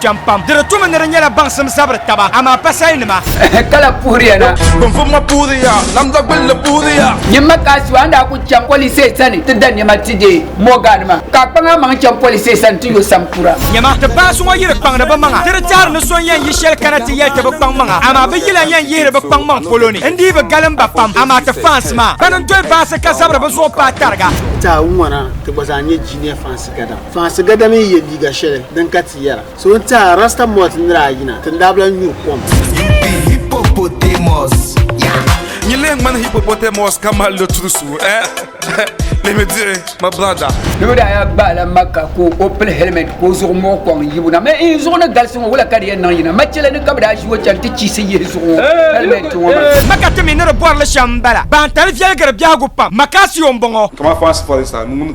Cham pam. Di di tumi ni di nyɛla baŋsim zabiri taba, amaa pasalinima. Kala puhiriya na. Binvum ma puhiriya, lamdagbilli puhiriya. Nyimma ka a su a ni daa kuli chaŋ polisee sani ti da nɛma ti deei Mɔɔgaanima, ka a kpaŋ a maŋ chaŋ polisee sani ti yo sampura. Nyama, ti baasi ŋɔ yi di kpaŋdi bɛ maŋa, ti di tɛhiri ni so n-yɛn yi shɛli kana ti yɛli ti bi kpaŋ maŋa, amaa bɛ yi lan yɛn yihiri bɛ kpaŋ maŋ polo ni. N dii bi galim ba pam, amaa ti fans maa, bɛn n-doli baasi ka zabiri bɛ zuɣu paai tariga. Ti a ŋɔ na ti gba zaa nyɛ Junior fans gana. Faansi gada mini ye liiga shɛli din ka ti yɛra, So n tɛha Rasta Malt nira ayi na, tindaabila n-nyuri kom. Hippopotamus, yeah. Nyin lee ŋmani hippopotamus ka mali lo turusu, eh? Let me do it, my brother. Doo daa yaa gbaai la Makka ka o pili helmet ka o zuɣu muɣi kɔŋ yibu na. Mɛ in zuɣu ni galisi ŋɔ, wula ka di yɛn niŋ yina? Machele ni ka bɛ daa ʒi o chani ti chiisi yihi zuɣu ŋɔ helmet ŋɔ maa. Makka ti mi ni di bɔrili shɛm m-bala. Baantali viɛligiri biɛhigu pam. Makka Sion bɔŋɔ. Kama faansi pɔlinsi anu ŋun